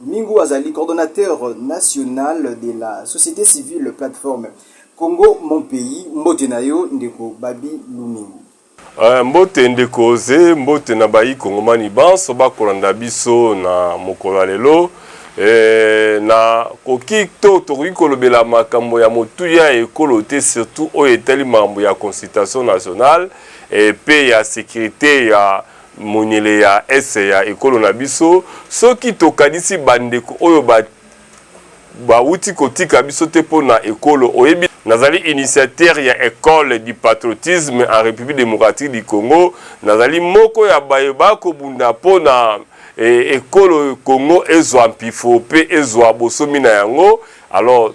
Domingo azali coordonnateur national de la societe civile plateforme Congo mon pays. Mbote na yo ndeko Babi Lumingu. Uh, mbote ndeko Oze, mbote na bayi kongomani banso bakolanda biso na mokolo ya lelo. Eh, na koki to tokoki kolobela makambo ya motuya ya ekolo te surtout oyo etali makambo ya consultation nationale eh, mpe ya sécurité ya monyele ya Est ya ekolo na biso, soki tokanisi bandeko oyo ba bawuti kotika biso te mpo na ekolo, oyebi. Nazali initiateur ya Ecole du patriotisme en Republique democratique du Congo, nazali moko ya baye bakobunda mpo na ekolo Congo ezwa mpifo mpe ezwa bosomi na yango, alors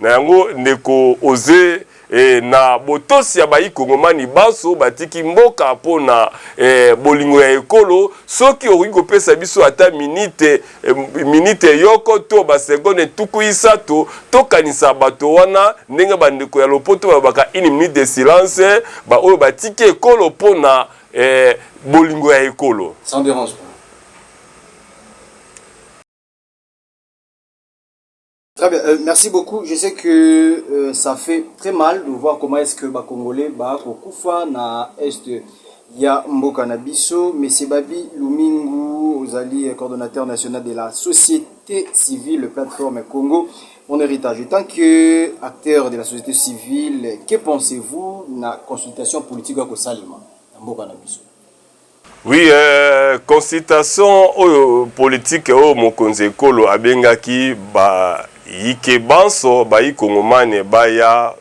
Na yango ndeko Oze eh, na botosi ya bayi kongomani banso batiki mboka mpo na eh, bolingo ya ekolo, soki okoki kopesa biso ata minite, eh, minite yoko to ba seconde tuku isato, tokanisa bato wana ndenge ba ndeko ya lopoto balobaka une minute de silence, ba oyo batiki ekolo mpo na eh, bolingo ya ekolo. Sans derangement. Très bien, euh, merci beaucoup. Je sais que euh, ça fait très mal de voir comment est-ce que ba Congolais ba kokufa na est ya mboka na biso. Monsieur Babi Lumingu, ozali coordonnateur national de la société civile plateforme Congo mon héritage. En tant que acteur de la société civile, que pensez-vous na consultation politique ya kosalema na mboka na biso? Oui, euh, consultation oyo politique oyo mokonzi ekolo abengaki ba yike banso bayi kongomane baya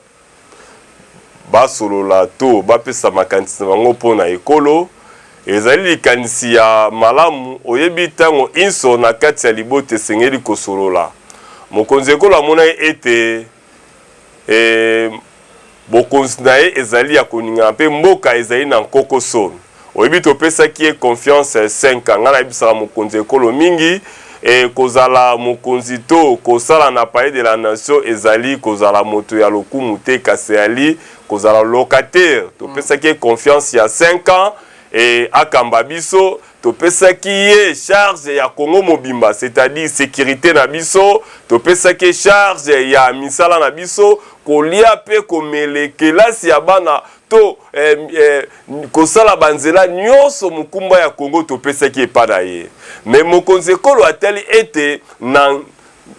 basolola to bapesa makanisi na bango mpo na ekolo ezali likanisi ya malamu. Oyebi, ntango inso na kati ya libota esengeli kosolola. Mokonzi ekolo amonaki ete Ee, bokonzi na ye ezali ya koningana, mpe mboka ezali na nkokoso. Oyebi, topesaki ye confiance cinq ans. Ngai nayebisaka mokonzi ya ekolo mingi, ee, kozala mokonzi to kosala na Palais de la Nation ezali kozala moto ya lokumu te, kasi ezali kozala locataire. Topesaki ye confiance ya cinq ans, ee, akamba biso. Topesaki ye charge ya Congo mobimba, c'est-à-dire securite na biso, topesaki ye charge ya misala na biso, kolia pe komele, kelasi ya bana to eh, eh, kosala banzela nyoso mokumba ya Congo topesaki epa na ye. Mais mokonzi ekolo atali ete na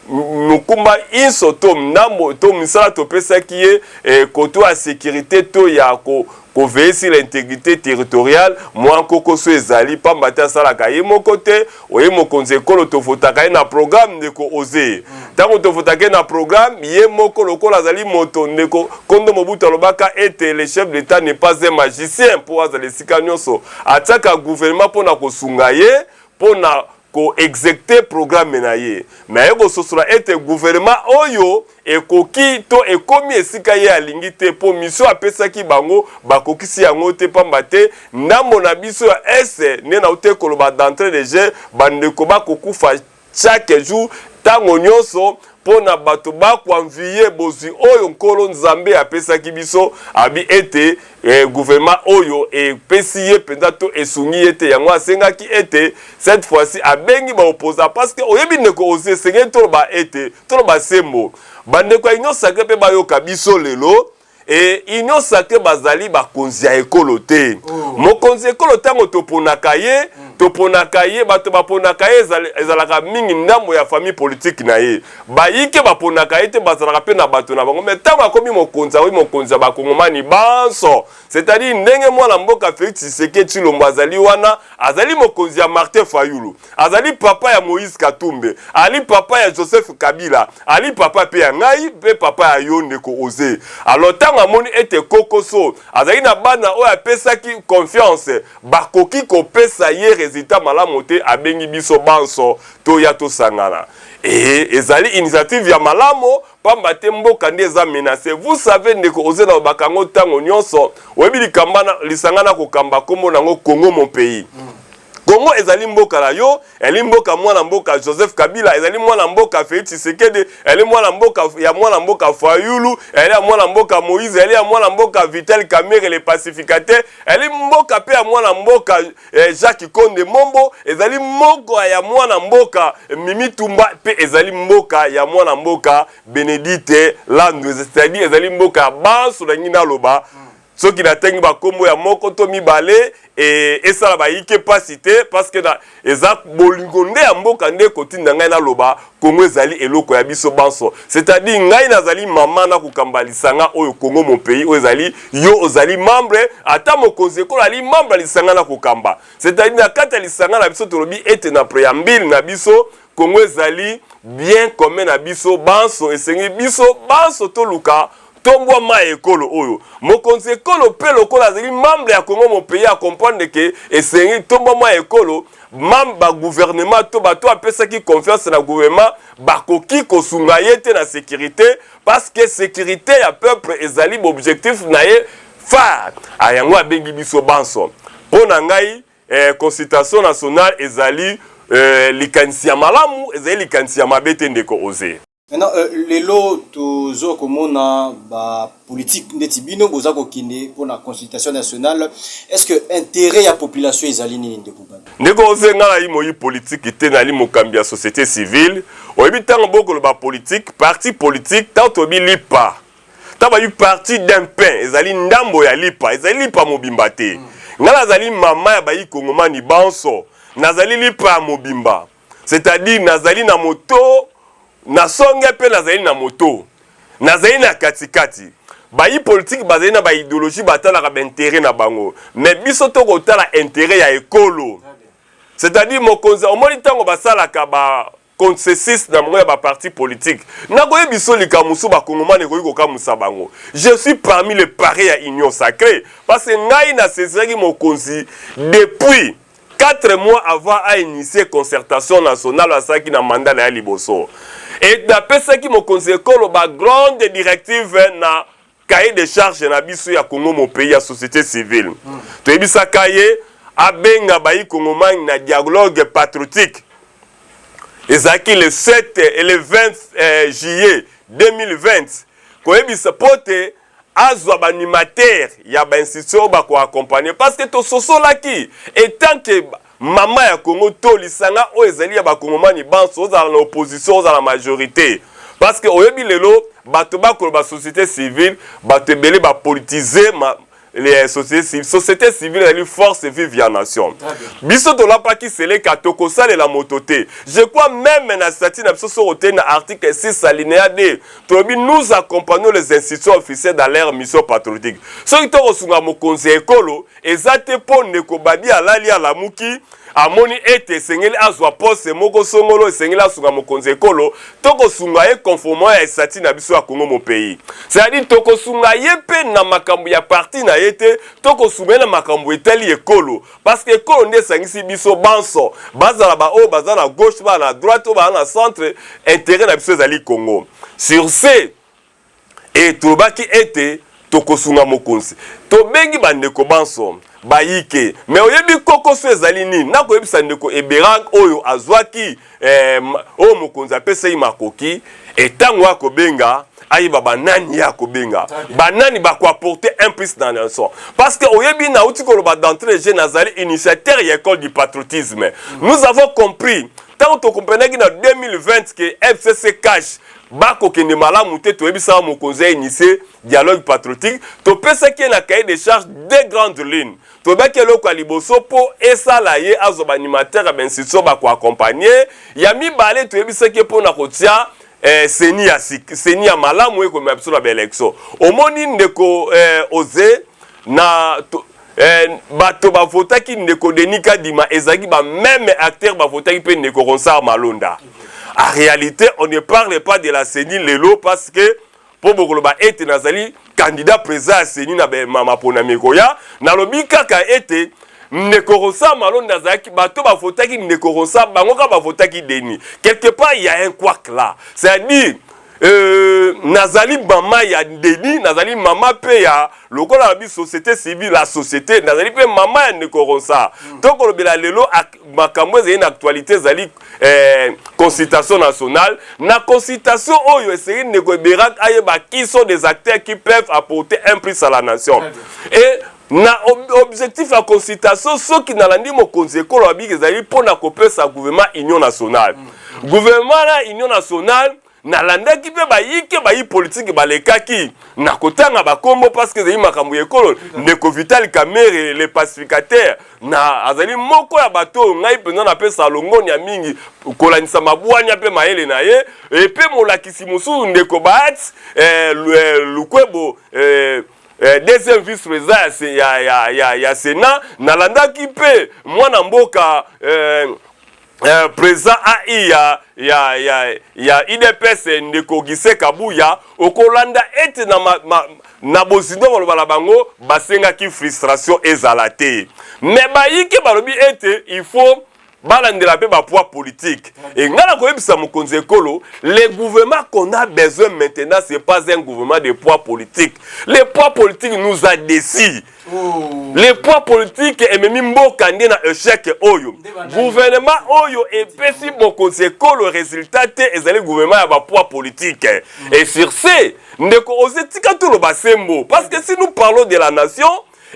mokumba inso to ndambo to misala topesaki ye e, koto ya securite to ya ko ko veiller sur l'integrite territoriale mwa nkoko so ezali pamba te asalaka ye moko te oye mokonzi ekolo tovotaka ye na programme ndeko oze ntango tovotaka ye na programme ye moko lokola azali moto ndeko kondo mobutu alobaka ete le chef de l'etat n'est pas un magicien mpo azala esika nyonso atiaka gouvernement mpo na kosunga ye mpo na ko execter programme na ye, mais aye kososola ete gouvernement oyo ekoki to ekomi esika ye alingi te mpo mission apesaki bango bakokisi yango te pamba te ndambo na biso ya Est nde nawutaki koloba d'entree de jeu bandeko bakokufa chaque jour tango nionso mpo na bato bakoanviye bozwi oyo Nkolo Nzambe apesaki biso, abi ete e, guvernema oyo epesi ye mpenza to esungi ye te. Yango asengaki ete cette fois ci abengi ba opposants parce que oyebi ndeko Ozi, esengeli toloba ete toloba sembo, bandeko ya Union sacree mpe bayoka biso lelo e union sacre bazali bakonzi ya ekolo te oh. mokonzi ekolo ntango toponaka ye mm. toponaka ye bato baponaka ye ezalaka mingi ndambo ya famille politike na ye bayike baponaka ye te bazalaka mpe na bato na bango mai ntango akomi mokonzi akomi mokonzi ya bakongomani banso c'est-à-dire ndenge mwana mboka felix tshisekedi tshilombo azali wana azali mokonzi ya martin fayulu azali papa ya Moïse Katumbe, ali papa ya Joseph Kabila, ali papa pe ya ngai pe papa ya yo ndeko Oze. Alors tango amoni ete Kokoso azali na bana oyo apesaki confiance bakoki kopesa ye resultat malamu te, abengi biso banso toya tosangana. Ee, ezali initiative ya malamu pamba te mboka nde eza menacer. Vous savez ndeko Oze nalobaka yango tango nionso, oyebi likambo wana, lisanga nakokamba kombo na yango Congo mon pays. Congo ezali mboka na yo, ezali mboka mwana mboka Joseph Kabila, ezali mwana mboka Felix Tshisekedi, ezali mwana mboka ya mwana mboka Fayulu, ezali ya mwana mboka Moïse, ezali ya mwana mboka Vital Kamerhe le pacificateur, ezali mboka pe ya mwana mboka eh, Jacques Konde Mombo, ezali mboka ya mwana mboka Mimi Tumba pe ezali mboka ya mwana mboka Benedite Landu, c'est-à-dire ezali mboka ya banso na ngina loba soki natangi bakombo ya moko to mibale e, esala bayike mpasi te parceke eza bolingo nde ya mboka nde ekotinda ngai naloba kongo ezali eloko ya biso banso c'est-à-dire ngai nazali mama na kokamba lisanga oyo kongo mon pays oyo ezali yo ozali membre ata mokonzi ekolo ali membre ya lisanga na kokamba c'est-à-dire na kati ya lisanga na biso tolobi ete na preambile na biso kongo ezali bien commun na biso banso esengi biso banso toluka Tombwa mai ya ekolo oyo mokonzi ekolo mpe lokola azali membre ya Congo Mopeyi akomprendre ke esengi tombwa mai ya ekolo mam ba guvernema to bato apesaki confiance na guvernema bakoki kosunga ye te na sekirite paske sekirite ya peuple ezali bobjectif na ye phare a yango abengi biso banso mpo na ngai eh, consultation nationale ezali eh, likanisi ya malamu ezali likanisi ya mabe te ndeko oze Maintenant, euh, lelo tozo komona ba politique ndeti bino boza kokende mpo na consultation nationale est-ce que intérêt ya population ezali nini ndeko bana ndeko oze nga nayi moyi politiki te nali mokambi ya société civile oyebi ntango bokoloba politiki parti politiki ntango toyebi lipa ntango bayebi parti d'un pain ezali ndambo ya lipa ezali lipa mobimba te mm. nga nazali mama ya bayi kongomani banso nazali lipa ya mobimba c'est-à-dire nazali na moto na songe mpe nazali na moto nazali na katikati bayi politiki bazali na baideologie batalaka baintere na bango me biso tokotala intere ya ekolo c'est-à-dire mokonzi omoni ntango basalaka ba consensus na bango ya baparti politike nakoye biso likambo mosusu bakongomani ekoki kokamwisa bango je suis parmi le pare ya union sacré parce que ngai naseziraki mokonzi depuis Quatre mois avant a initier concertation nationale asalaki na mandat na ye liboso et napesaki mokonzi ekolo ba grandes directives na cahier de charge na biso ya Congo mon pays ya societe civile mm. toyebisaka ye abenga bayi kongomani na dialogue patriotique ezalaki le 7 et le 20 eh, juillet 2020 koyebisa mpo te azwa ba animateur ya ba institution oyo bako accompagner parce que tososolaki etant que mama ya Congo to lisanga oyo ezali ya ba kongomani banso ozala na opposition ozala majorite parce que oyebi lelo bato bakoloba société civile bato ebele ba politiser ma les sociétés civiles. Société civile ezali force vive ya nation. Biso tolapaki seleka tokosalela moto te. Je crois même na statut na biso soko te na article 6 alinéa 2 tolobi nous accompagnons les institutions officielles dans leur mission patriotique soki to kosunga mokonzi ya ekolo eza te mpo ndeko badi alali alamuki amoni ete esengeli azwa poste moko songolo esengeli asunga mokonzi ya ekolo to kosunga ye conformement ya estati na biso ya congo mon pays c'est-à-dire tokosunga ye mpe na makambo ya parti na ye te to kosunga ye na makambo etali ekolo parce que ekolo nde esangisi biso banso bazala baoyo baza na gauche baa na droite oyo baa na centre intérêt na biso ezali congo sur ce e tolobaki ete tokosunga mokonzi tobengi bandeko banso bayike me oyebi kokoso ezali nini nakoyebisa ndeko eberag oyo azwaki eh, oyo mokonzi apesa ye makoki etango ya kobenga ayeba banani ye akobenga banani bakoaporte un plus na leçon parce que oyebi nauti koloba d'entrée je nazali initiateur ya école du patriotisme mm. nous avons compris ntango tokomprenaki na 2020 ke fcc cash bakokende malamu te toyebisaka mokonzi ya initie dialogue patriotique topesaki ye na cahier de charge deux grandes lignes Toyebaki eloko ya liboso mpo esala ye azwa ba animateurs ya ba institutions ba ko accompagner. Ya mibale, toyebisaki ye mpo na kotia eh, ceni ya sika, ceni ya malamu oyo ekomema biso na ba elections. Omoni ndeko eh, Oze, na to, eh, bato ba votaki ndeko Denis Kadima ezalaki ba meme acteurs ba votaki mpe ndeko Ronsard Malonda. En realite, on ne parle pas de la ceni lelo parce que mpo bokoloba ete nazali kandida president ya seni na maponami ekoya nalobi kaka ete ndeko rosa malonda azalaki bato bavotaki ndeko rosa bango kaka bavotaki deni quelque part ya un quak là c'est à dire Euh, nazali mama ya deni nazali mama mpe ya lokola na biso société civile la société nazali mpe mama ya ndeko ronsa mm. tokolobela lelo makambo ezali na actualité ezali eh, consultation nationale na consultation oyo esengeli ndeko eberak ayeba qui sont des acteurs qui peuvent apporter un plus à la nation et na objectif ya consultation soki nalandi mokonzi ekolo ya biki ezali mpo na kopesa gouvernement union nationale mm. gouvernement na union nationale nalandaki mpe bayike bayi politiki balekaki na kotanga bakombo parceke ezali makambo ya ekolo ndeko vital kamere le pacificateur na azali moko ya bato oyo ngai mpenza napesa longonya mingi kolandisa mabwanya mpe mayele na ye epe molakisi mosusu ndeko baat eh, eh lukwebo eh, eh, deuxième vice président ya, ya, ya, ya, ya senat nalandaki mpe mwana mboka eh, eh, président ai ya, ya, ya, ya udps ndeko gise kabuya okolanda ete na, ma, ma, na bozindo baloba na bango basengaki frustration ezala te me bayike balobi ete il faut balandela mpe bapoids politique e ngai nakoyebisa mokonzi ekolo le gouvernement qu'on a besoin maintenant c'est pas un gouvernement de poids politique le poids politique nous a décis le poids politique ememi mboka nde na echec oyo gouvernement oyo epesi bokonzi ekolo resultat te ezali gouvernement ya bapoids politique mm. et sur ce ndeko oze tika toloba sembo parce que si nous parlons de la nation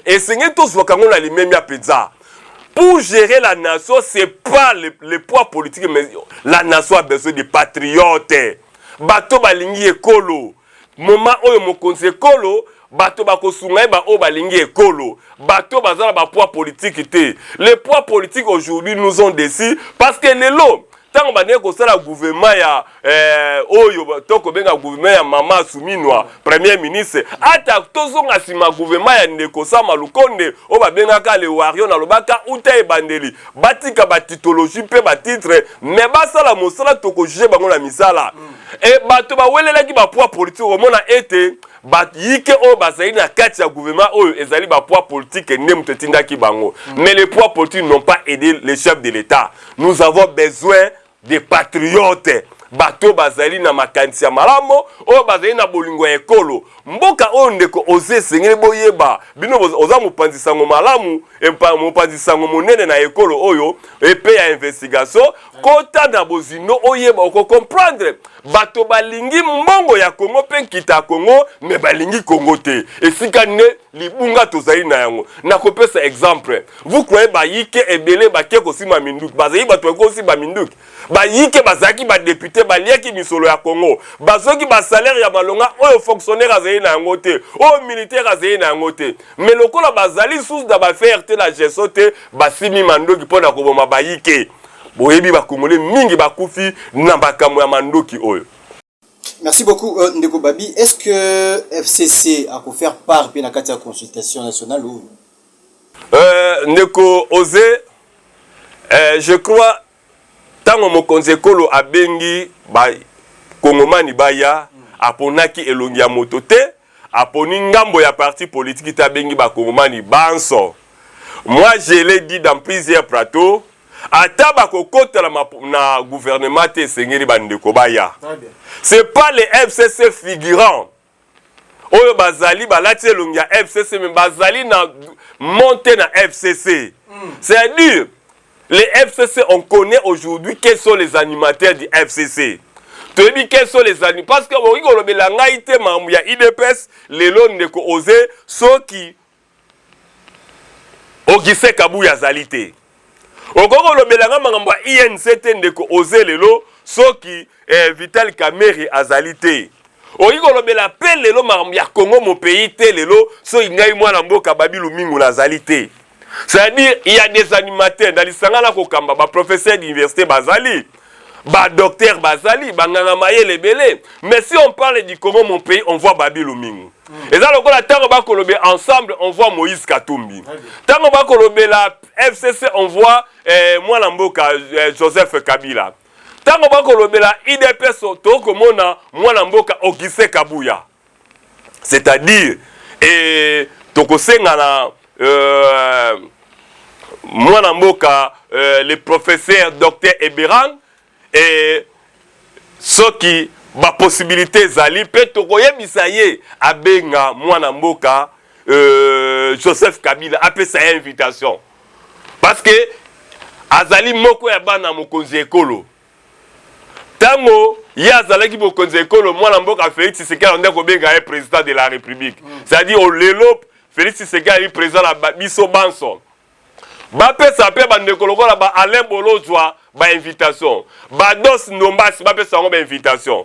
esengeli tozwaka yango na limemia mpenza pour gérer la nation c'est pas le, le poids politique mais la nation a besoin de patriote bato balingi ekolo moma oyo mokonzi ekolo bato bakosunga ye baoyo balingi ekolo bato baza na bapoids politiki te le poids politiki aujourd'hui nous ont desi parce que lelo ntango bandeki kosala guvema ya eh, oyo to kobenga guvema ya mama asuminwa premier ministre ata tozonga nsima guvema ya ndeko sama lukonde oyo babengaka le wario nalobaka uta ebandeli batika batitologie mpe batitre me basala mosala tokojuge bango na misala mm. E bato bawelelaki ba poids politique okomona ete bayike oyo bazali na kati ya gouvernement oyo ezali ba poids politique nde moto etindaki bango mm. mais les poids politiques n'ont pas aidé le chef de l'État nous avons besoin des patriotes bato oyo bazali na makanisi ya malamu oyo bazali na bolingo ya ekolo mboka oyo ndeko oze esengeli boyeba bino oza mopanzi sango malamu mopanzi sango monene na ekolo oyo epe ya investigation kota na bozindo oyeba okocomprendre bato balingi mbongo ya kongo mpe nkita ya kongo me balingi kongo te esika nde libunga tozali na yango nakopesa exemple vous croyez bayike ebele bake kosima minduki bazali bato baki kosimba minduki bayike bazalaki badepute baliaki misolo ya kongo bazoki basalaire ya malonga oyo fonctionnaire azali na yango te oyo militaire azali na yango te me lokola bazali susu na bafere te na geso te basimi mandoki mpo na koboma bayike boyebi ba congolais mingi bakufi na makambo ya mandoki oyo Merci beaucoup euh, Ndeko Babi. Est-ce que FCC a faire part puis la carte consultation nationale ou euh, Ndeko Ose, euh, je crois tango mokonzi ekolo abengi ba kongomani baya aponaki elongi ya moto te Aponi ngambo ya parti politique te abengi ba kongomani banso. Moi je l'ai dit dans plusieurs plateaux, ata bakokota na, ma, na gouvernement te esengeli bandeko baya. C'est pas les FCC figurants oyo bazali balati elongi ya FCC mais bazali na monte na FCC. Mm. C'est-à-dire Les FCC, on connaît aujourd'hui quels sont les animateurs du FCC. toyebi quels sont les animateurs parce que okoki kolobela ngai te makambo ya idps lelo ndeko oze soki ogise kabuya azali te okoki kolobela ngai makambo ya inc te ndeko oze lelo soki eh, vital kamere azali te okoki kolobela mpe lelo makambo ya kongo mopeyi te lelo soki ngai mwana mboka babi lumingu nazali te C'est-à-dire, il y a des animateurs dans lisanga na kokamba, ba professeurs d'université bazali, ba docteurs bazali, ba nganga mayele belé. Mais si on parle du Congo, mon pays, on voit Babi Lumingu. Mm. Et ça, le la tango bakolobe ensemble, on voit Moïse Katumbi. Tango bakolobe la FCC, on voit eh, Mwana Mboka, eh, Joseph Kabila. Tango bakolobe la IDPS, toko mona Mwana Mboka, Auguste Kabuya. c'est-à-dire et tokosenga na euh, mwana mboka euh, le professeur docteur Eberan et soki baposibilité ezali mpe tokoyebisa ye abenga mwana mboka euh, joseph kabila apesa ye invitation parce que azali moko ya bana mokonzi ya ekolo ntango ye azalaki mokonzi ya ekolo mwana mboka felix tshisekedi alandi akobenga ye président de la république mm. c'est-à-dire oh, lelo felix tshisekedi ayeli président na biso banso bapesa mpe bandeko lokola ba alain bolozwa bainvitation bados ndombasi bapesa yango bainvitation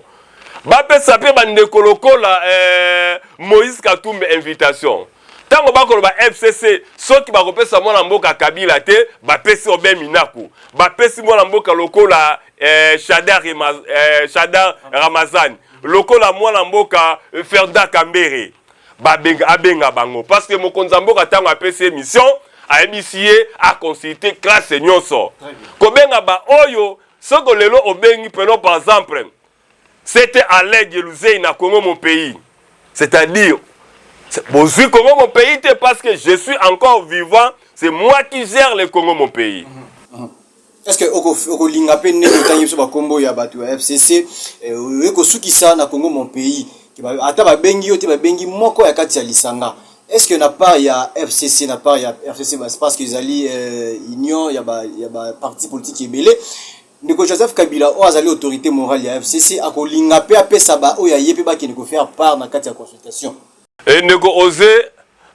bapesa mpe bandeko lokola eh, moïse katumbe invitation ba ntango bakoloba fcc soki bakopesa mwana mboka kabila te bapesi obe minaku bapesi mwana mboka lokola eh, shadar, eh, shadar ramazani lokola mwana mboka eh, ferda kambere babenga abenga bango parce que mokonzi ya mboka ntango apesi ye mission ayebisi ye aconsulte classe nyonso kobenga baoyo soko lelo obengi peno par exemple Sete Alain Geluzei na Congo mon pays. C'est-à-dire, bozui Congo mon pays te parce que je suis encore vivant, c'est moi qui gère le Congo mon pays. Mm -hmm. est ce que okolinga mpe ndenge otangi biso bakombo ya bato ya fcc eh, oye kosukisa na congo mon pays ata babengi yo te babengi moko ya kati ya lisanga est ce que na part ya fcc na part ya fcc parce que ezali eh, union ya baparti politique ebele ndeko joseph kabila oyo azali autorité morale ya fcc akolinga mpe apesa baoyo aye mpe bakende kofaire part na kati ya consultation e ndeko oze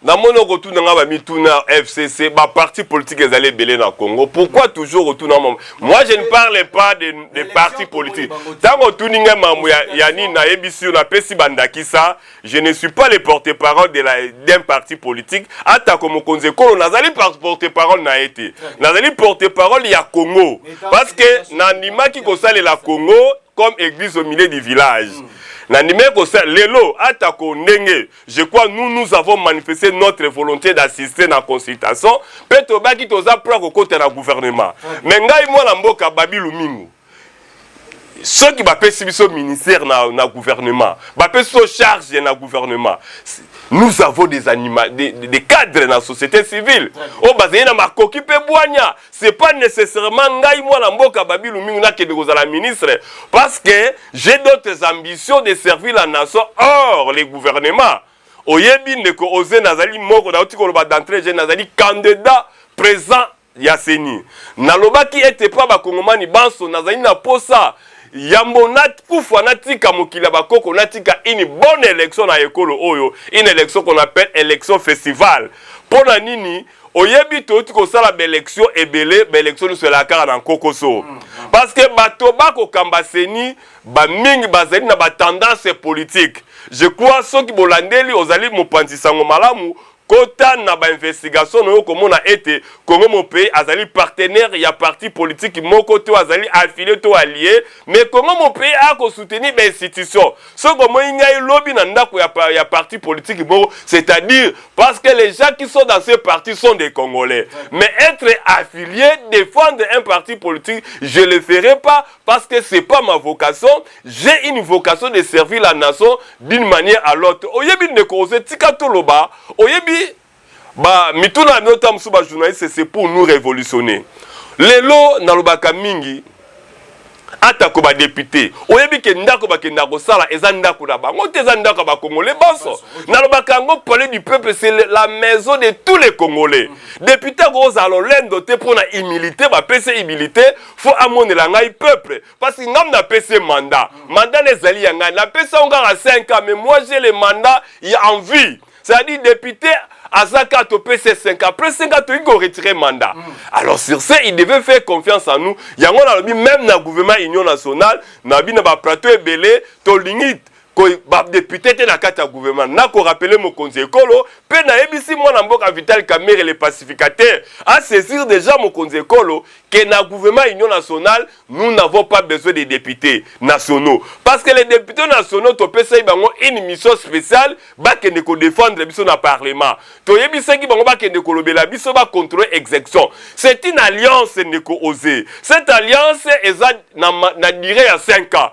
namoni okotuna ngai bamituna ya fcc baparti politique ezali ebele na congo pourquoi toujours okotuna mambo moi je ne parle pas de, de parti politique ntango otuni ngai mambo ya, ya nini nayebisi yo napesi bandakisa Je ne suis pas le porte-parole de la d'un parti politique atako mokonzi ekolo nazali porte-parole na ye te nazali porte-parole ya Congo parce que nandimaki kosalela Congo comme église au milieu du village mm. nandimaki kosalela lelo atako ndenge je crois nous nous avons manifesté notre volonté d'assister na consultation mpe tobaki toza mpo ya kokota na gouvernement mais ngai mwana mboka babilu mingu soki bapesi biso ministère na, na gouvernement bapesi biso charge na gouvernement nous avons des, anima, des, des cadres na société civile oyo bazali na makoki mpe bwanya c'est pas nécessairement ngai mwana mboka babilu mingi nakende kozala ministre parce que j'ai d'autres ambitions de servir la nation hors les gouvernements oyebi ndeko oze nazali moko nauti koloba d'entrée je nazali candidat présent ya ceni nalobaki ete mpo ya bakongomani banso nazali na mposa yambo nakufa natika mokili ya bakoko natika une bonne election na ekolo oyo une election qu'on appelle election festival mpo na nini oyebi touti kosala baelection ebele baelection nyonso elaka kaka na nkokoso mm, mm. parce que bato bakokamba seni bamingi bazali na batendance politique je crois soki bolandeli ozali mopanzi sango malamu Kota na ba investigations na yo okomona ete Congo mon pays azali partenaire ya parti politique moko te oyo azali affilie to allie mais Congo mon pays aya ko soutenir ba institutions. Soki omoni ngai lobi na ndako ya ya parti politique moko c'est à dire parce que les gens qui sont dans ce parti sont des congolais mais etre affilie defendre un parti politique je le ferai pas parce que c'est pas ma vocation j'ai une vocation de servir la nation d'une manière à l'autre oyebi ndeko ose tika toloba oyebi ba mituna ya miotam mosusu ba journaliste c'est pour nous révolutionner lelo nalobaka mingi atako badepute oyebi ke ndako bakenda kosala eza ndako na bango te eza ndako ya bakongole banso nalobaka yango palais du peuple c'est la maison de tous les congolais mhm. depute akozala lolendo te mpo na humilité bapesi humilité fo amonela ngai peuple parce que ngai napesi ye mandat mandat na ezali ya ngai napesi yango kaka 5 ans mais moi j'ai le mandat ya envie c'est-à-dire député aza kaka topesi ye 5 ans après 5 ans toyiki koretire mandat mm. alors sur ce il devait faire confiance en nous yango nalobi même na gouvernement union nationale nabi na baplateau ebele tolingi ba député te na kati ya gouvernement na ko rappeler mokonzi ekolo pe na yebisi mwana mboka Vital Kamerhe le pacificateur a saisir déjà mokonzi ekolo que na gouvernement union nationale nous n'avons pas besoin des députés nationaux parce que les députés nationaux topesaki bango une mission spéciale bakende ko défendre biso na parlement toyebisaki bango bakende kolobela biso ba contrôler execution c'est une alliance ndeko ose cette alliance eza na, na durée ya 5 ans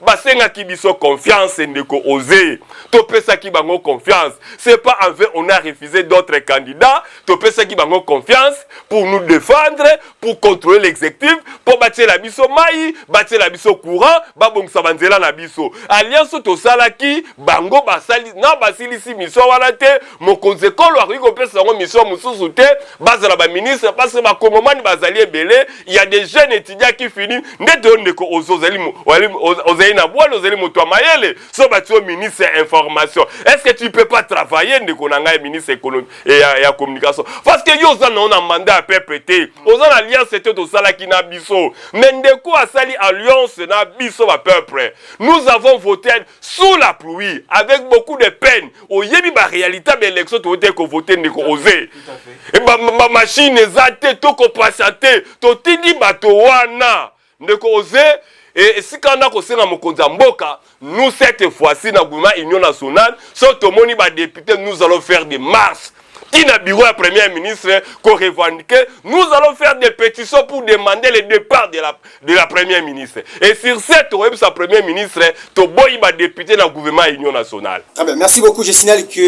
basengaki biso confiance ndeko ose topesaki bango confiance c'est pas envers on a refusé d'autres candidats topesaki bango confiance pour nous défendre pour contrôler l'exécutif mpo batiela biso mai batiela biso courant babongisa banzela na biso alliance tosalaki bango basali na basilisi miso wana te mokonzi ekolo akoki kopesa yango mission mosusu te bazala baministre parce que bakongomani bazali ebele ya des jeunes étudiants qui fini ndete yo ndeko ozo ozali ozali na bwale ozali moto ya mayele so bati yo ministre ya information est ce que tu peux pas travailler ndeko na ngai ministre économie eh, ya, ya communication parce que yo oza nao na mandat ya peuple te oza na alliance te tosalaki na biso mais ndeko asali alliance na biso ba peuple nous avons voté sous la pluie avec beaucoup de peine oyebi baréalité ya baélection toyete kovote ndeko ose bamashine eza te tokopasa te totindi bato wana ndeko ose esika wana kosenga mokonzi ya mboka nous cette fois-ci na gouvernement union nationale so tomoni badepute nous allons faire des marche ti na bureau ya premier ministre ko revendiquer nous allons faire des pétitions pour demander le départ de la, de la premier ministre et sur ce tokoyebisa premier ministre toboyi badepute na gouvernement ya union nationale ah ben, merci beaucoup je signale que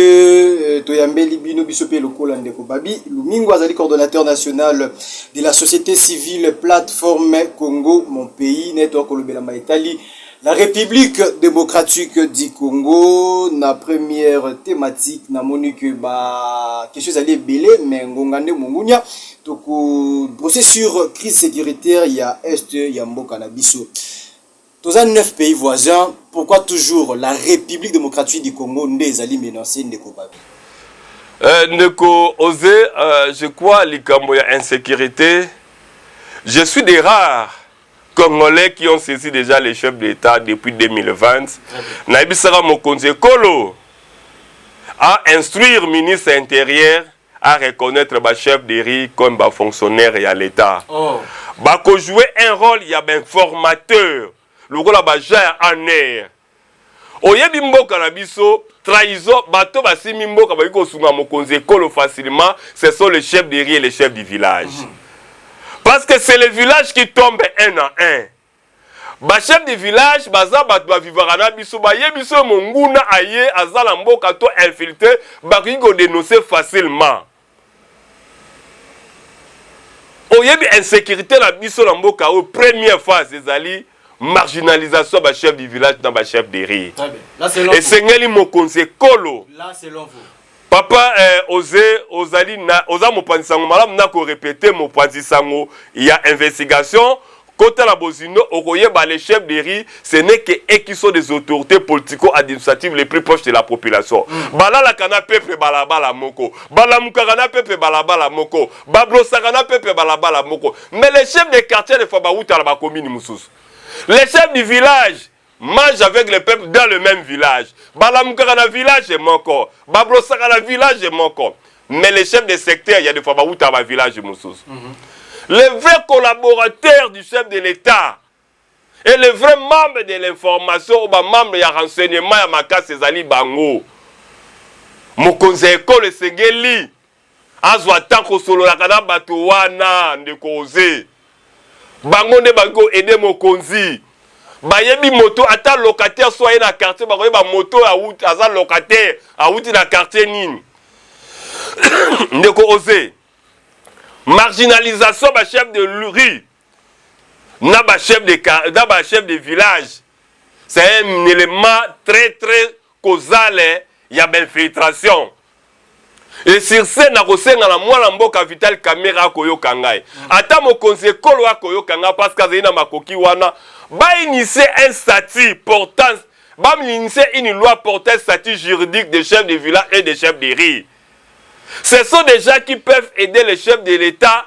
euh, toyambeli bino biso mpe lokola ndeko babi lumingo azali coordonnateur national de la société civile plateforme congo mon pays network kolobelama etali La Republique democratique du Congo na première thématique namoni que ba question ezali ebele mais ngonga nde mongunia toko brosser sur crise sécuritaire ya est ya mboka na biso toza 9 pays voisins pourquoi toujours la République démocratique du Congo nde ezali menacée ndeko babi euh, ndeko Ose euh, je crois likambo ya insécurité je suis des rares congolais qui ont saisi déjà les chefs d'État depuis 2020 nayebisaka mokonzi ekolo a instruire ministre intérieur à reconnaître ba chef de riz comme ba fonctionnaire ya l'État oh. bakojouer un rôle ya bainformateur lokola baja ya aner Oyebi mboka na biso trahison bato basimi mboka baki kosunga mokonzi ekolo facilement ce sont les chefs de riz et les chefs du village mm -hmm. parce que c'est le village qui tombe un à un bachef de village baza bato bavivaka na biso bayebi biso monguna aye aza na mboka to infiltre bakoki kodenonce facilement oyebi insecurite na biso na mboka oyo première phase ezali marginalisation ya bachef du village na bachef de rire esengeli mokonzi ekolo papa eh, oze ozali na, oza mopanzi sango malamu na korepete mopanzi sango ya investigation Kota na bozindo okoyeba le chef de rue ce n'est que ekiso des autorites politico administratives les plus proches de la population. Balalaka na peuple balabala moko, balamukaka na peuple balabala moko, ba brossaka na peuple balabala moko. Mais les chefs de quartier des fois bawuta na ba communes mususu. Les chefs du village Mage avec le peuple dans le même village. Balamukaka na village moko. Babrosaka na village moko. Mais les chefs de secteur, il y a des fois bawuta ba village mususu. Mm -hmm. Le vrai collaborateur du chef de l'État et le vrai membre de l'information ou ba membre ya renseignement ya makasi ezali bango. Mokonzi ya ekolo esengeli azwa temps kosololaka na bato wana ndeko oze bango nde bakoki koede mokonzi bayebi moto ata locataire so aye na quartier bakoyeba moto awuti aza locataire awuti na quartier nini ndeko oze marginalisation ba chef de rue na ba chef de na ba chef de village c'est un élément très très causal ya ba infiltration et sur ce nakosenga na mwana mboka vital kamera akoyoka ngai mm. ata mokonzi ekolo akoyoka ngai parce que azali na makoki wana bainitie un statut portant baminitie une loi portant statut juridique des chefs de village et des chefs de riz ce sont des gens qui peuvent aider les chefs de l'état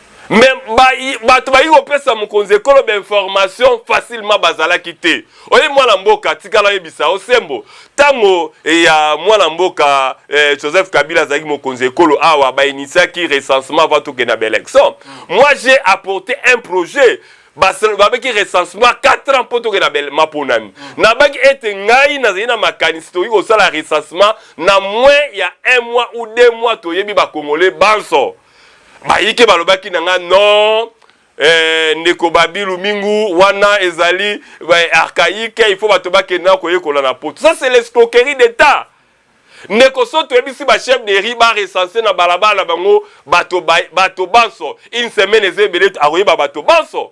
me bato bayiki kopesa mokonzi ekolo bainformation facilement bazalaki te oye mwana mboka tikala oyebisa osembo ntango eh, ya mwana mboka eh, joseph kabila azalaki mokonzi ekolo awa bainitiaki recensement avant tokenda baélection mm. moi j'ai apporté un projet babaki recensement 4 ans mpo tokenda maponami mm. nabaki ete ngai nazali na makanisi tokoki kosala recensement na moins ya 1 mois ou 2 mois toyebi bakongole banso bayike balobaki na nga non eh, ndeko babilu mingu wana ezali eh, archaïque il faut bato bakende na koyekola na poto ça c'est l'escroquerie d'état ndeko so toyebisi bachef de ri barecense na balabala na bango bato banso une semaine eza ebele akoyeba bato banso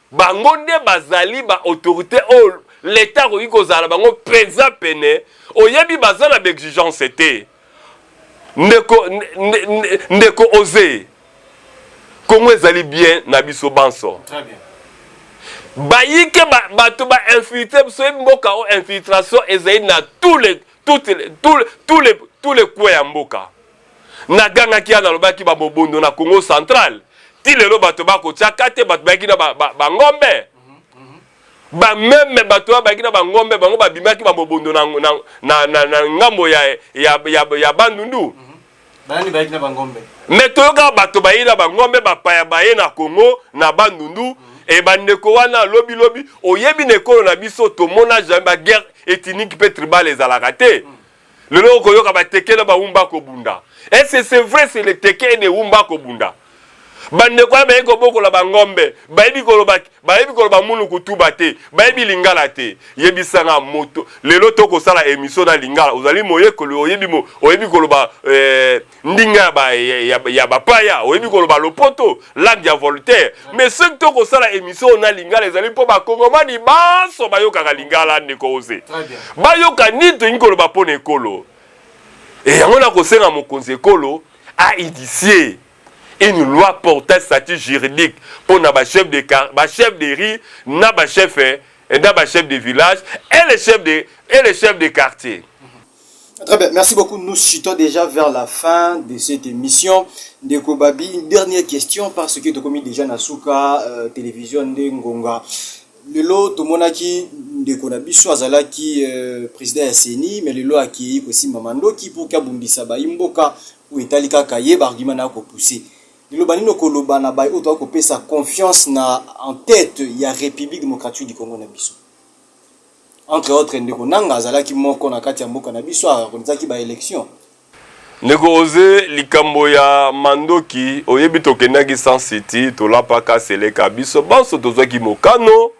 Bango nde bazali ba autorites oyo l'Etat akoki kozala na bango mpenza pene. Oyebi, baza na ba exigences te. Ndeko, ndeko Oze, Congo ezali bien na biso banso. Très bien. Bayike ba, bato ba infiltre biso yebi mboka o infiltration ezali na tous les, toutes les, tous les, tous les, tous les coins ya mboka. Nagangaki ya nalobaki ba mobondo na Congo central ti lelo bato bakotia kate bato bayaki na bangombe ba meme bato oyo bayaki na bangombe bango babimaki ba mobondo na, na, na, na, na ngambo ya, ya, ya, ya bandundu mm -hmm. Banani bayaki na bangombe? Mais toyoka bato baye na bangombe bapaya baye na Congo na bandundu mm -hmm. e bandeko wana lobi lobi oyebi na ekolo na biso tomona jamais ba guerre ethnique mpe tribal ezalaka te mm -hmm. lelo okoyoka bateke na baumba kobunda ese c'est vrai c'est le teke ne umba kobunda bandeko ya bayebi kobokola bangombe bayebi koloba bayebi koloba munu kutuba te bayebi lingala te yebisanga moto lelo tokosala emission na lingala ozali moyekoli oyebi mo, oyebi koloba eh, ndinga ya ba, ya, ya, ya bapaya oyebi koloba lopoto lac ya voltaire mais soki to kosala émission oyo na lingala ezali mpo bakongomani banso bayokaka lingala ndeko oze bayoka nini tolingi koloba mpo na ekolo e yango nakosenga mokonzi ekolo ainitie une loi portant statut juridique mpo na bachef de, ba chef de riz na bachef eh, na bachef de village et les chefs de, et les chefs de quartier Très bien, merci beaucoup. Nous chutons déjà vers la fin de cette émission. Ndeko Babi, une dernière question parce que tu as commis déjà Nasuka, euh, télévision Ndengonga. lelo tomonaki ndeko na biso azalaki euh, président ya ceni mais lelo akei kosimba mandoki mpo kabundisa bayi mboka oyo etali kaka ye baargument na kopousse liloba nini okoloba na baye oyo toyaki kopesa confiance na en tête ya république démocratique du congo na biso Entre autres, ndeko Nanga azalaki moko na kati ya mboka na biso a organisaki ba elections. Ndeko Jose, likambo ya mandoki, oyebi tokendaki Sun City, tolapaka Seleka, biso banso tozwaki mokano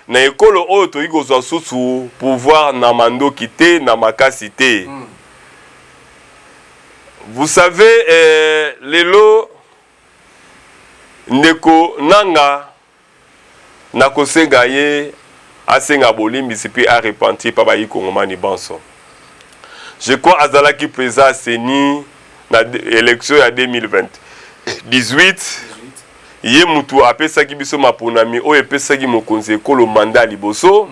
na ekolo oyo tokoki kozwa susu pouvoir na mandoki te, na makasi te. Mm. Vous savez, eh, lelo ndeko Nanga, Nakosenga ye asenga bolimbisi pe a repentir pa bayi kongomani banso. Je crois azalaki president ya ceni na election ya 2018, ye mutu apesaki biso maponami oyo epesaki mokonzi ya ekolo mandat ya liboso.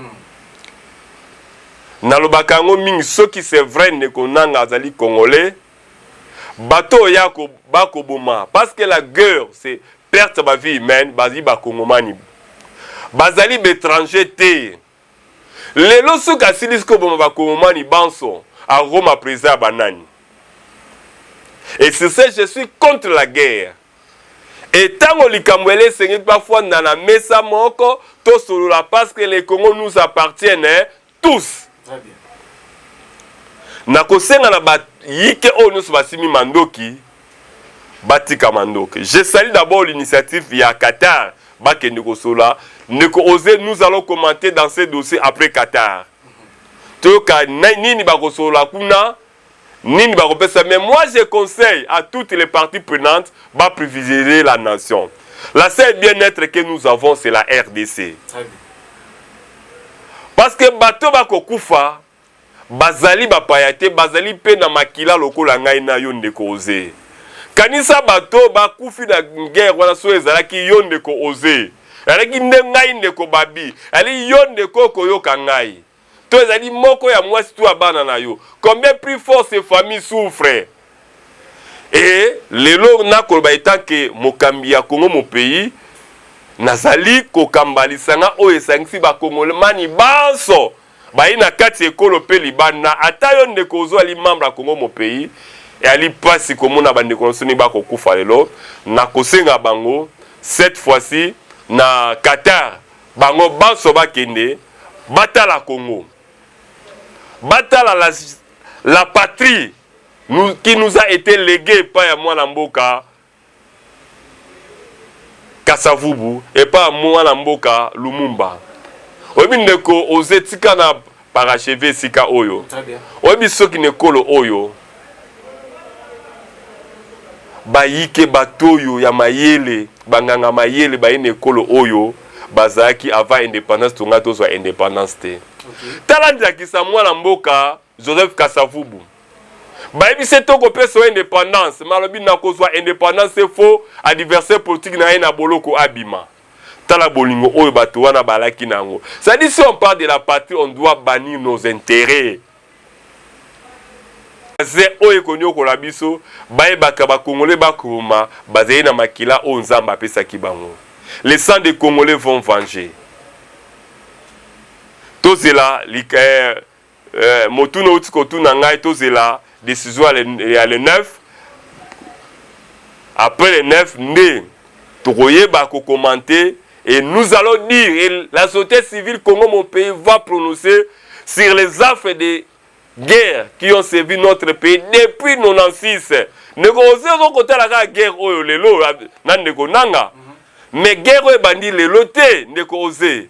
Nalobaka yango mingi soki c'est vrai ndeko nanga azali congolais, bato oyo yako bakoboma, parce que la geurre c'est perte ya ba vie humaine bazali ba kongomani bazali ba etranger te lelo soki asilisi koboma ba kongomani banso akokoma president ya banani et sur ce je suis contre la guerre etango likambo ele esengeli bafanda na mesa moko tosolola parce que le congo nous appartienne tous nakosenga na bayike oyo nyonso basimi mandoki batika mandoki je sali d'abord l'initiative ya qatar bakende kosola ndeko ose nous allons commenter dans ce dossier après qatar toyoka nini bakosolola kuna Nini bakopesa mais moi je conseille à toutes les parties prenantes ba privilegier la nation. La seule bien être que nous avons c'est la RDC. Parce que bato bakokufa bazali bapaya te bazali mpe na makila lokola ngai na yo ndeko oze kanisa bato bakufi na guerre wana soki ezalaki yo ndeko oze ezalaki nde ngai ndeko babi ezali yo ndeko okoyoka ngai to ezali moko ya mwasi to ya bana na yo combien plus fort ces familles souffrent et lelo nakoloba etant que mokambi ya Congo mon pays nazali kokamba lisanga oyo esangisi bakongomani banso bayi na kati ekolo mpe libanda ata yo ndeko ozo ali membre ya Congo mon pays eyali mpasi komona bandeko na biso ndenge bakokufa lelo na kosenga bango cette fois-ci na Qatar Bango banso bakende batala Congo, batala la, la patrie nous, qui nous a été legue epai ya mwana mboka Kasavubu, epai ya mwana mboka Lumumba. Oyebi ndeko oze tika na Paracheve esika oyo. Oyebi soki na ekolo oyo bayike bato oyo ya mayele banganga mayele baye na ekolo oyo bazalaki avant independance tonga tozwa independance te. Okay. Tala ndakisa mwana mboka Joseph Kasavubu. bayebisi ete okopesa yo independance malobi nakozwa independance efo adversaire politique na ye na boloko abima Tala bolingo oyo bato wana balaki na yango. Ça dit, si on parle de la patrie, on doit bannir nos intérêts. Baze oyo ekoniokola biso, bayebaka ba Congolais bakoma bazali na makila oyo Nzambe apesaki bango. Les sangs des Congolais vont venger. Tozela lika, eh, Eh, motuna outi kotuna ngai, tozela decision ya le, ya le 9 après le 9 nde tokoyeba kokomante et nous allons dire et la société civile Congo mon pays va prononcer sur les affres de guerre qui ont servi notre pays depuis 96 ndeko ozi ozokotala kaka guerre oyo lelo na ndeko nanga mais guerre oyo ebandi lelo te ndeko oze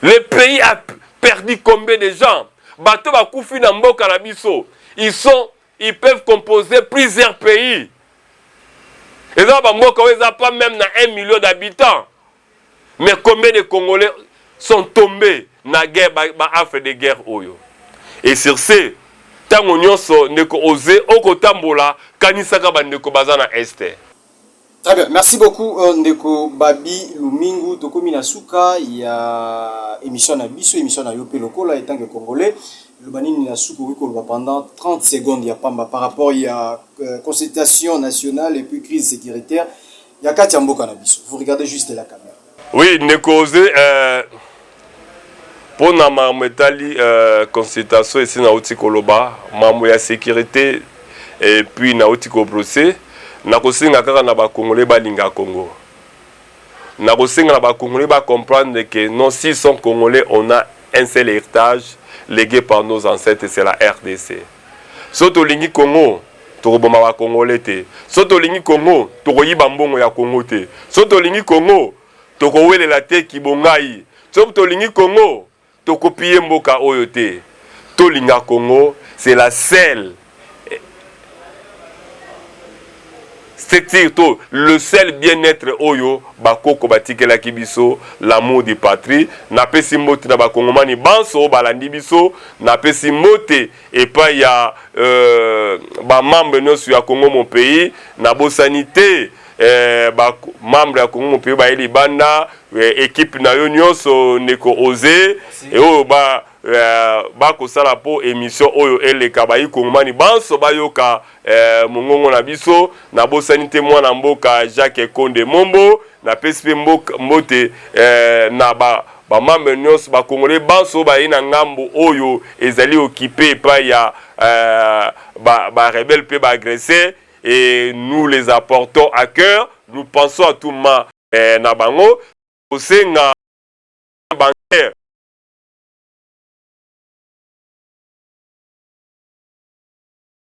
le pays a perdu combien de gens bato bakufi na mboka na biso ils sont ils peuvent composer plusieurs pays eza bamboka oyo eza pas même na 1 million d'habitants mais combien de congolais sont tombés na guerre baafre ba de guerre oyo et sur ce ntango nyonso ndeko oze okotambola kanisaka bandeko baza na este Très bien, merci beaucoup euh, ndeko Babi Lumingu. Tokomi na suka ya émission na biso, émission na yo pe lokola etant que congolais. Loba nini na suka okoki koloba pendant 30 secondes ya pamba par rapport ya euh, consultation nationale et puis crise sécuritaire ya kati ya mboka na biso. Vous regardez juste la caméra. Oui ndeko oze euh, mpo na makambo etali euh, consultation esi nauti koloba makambo ya sécurité et puis nauti kobrose nakosenga kaka na bakongole balinga congo nakosenga na bakongole bacomprendre que non s'ils sont congolais on a un seul héritage légué par nos ancêtres c'est la rdc so tolingi congo tokoboma ba congolais te so tolingi congo tokoyiba mbongo ya congo te so tolingi congo tokowelela te kibongai so tolingi congo tokopiye mboka oyo te tolinga congo c'est la seule structure to le seul bien-être oyo bakoko batikelaki biso l'amour de patrie napesi mbote na bakongomani banso balandi biso napesi mbote epai ya euh, ba membres nionso ya Congo mon pays, nabosani te eh, ba membre ya Congo mon pays baye libanda eh, equipe na yo nionso ndeko Ose e oyo ba eh, bakosala po emission oyo eleka bayi kongomani banso bayoka eh, mongongo na biso nabosani te mwana mboka Jacques Konde Mombo napesi mpe mboka mbote eh, na ba bamambre nyonso bakongole banso baye na ngambo oyo ezali okipe epai ya eh, barebele ba mpe baagresseur et nous les apportons à cœur nous pensons à tout ma eh, na bango kosenga bancaire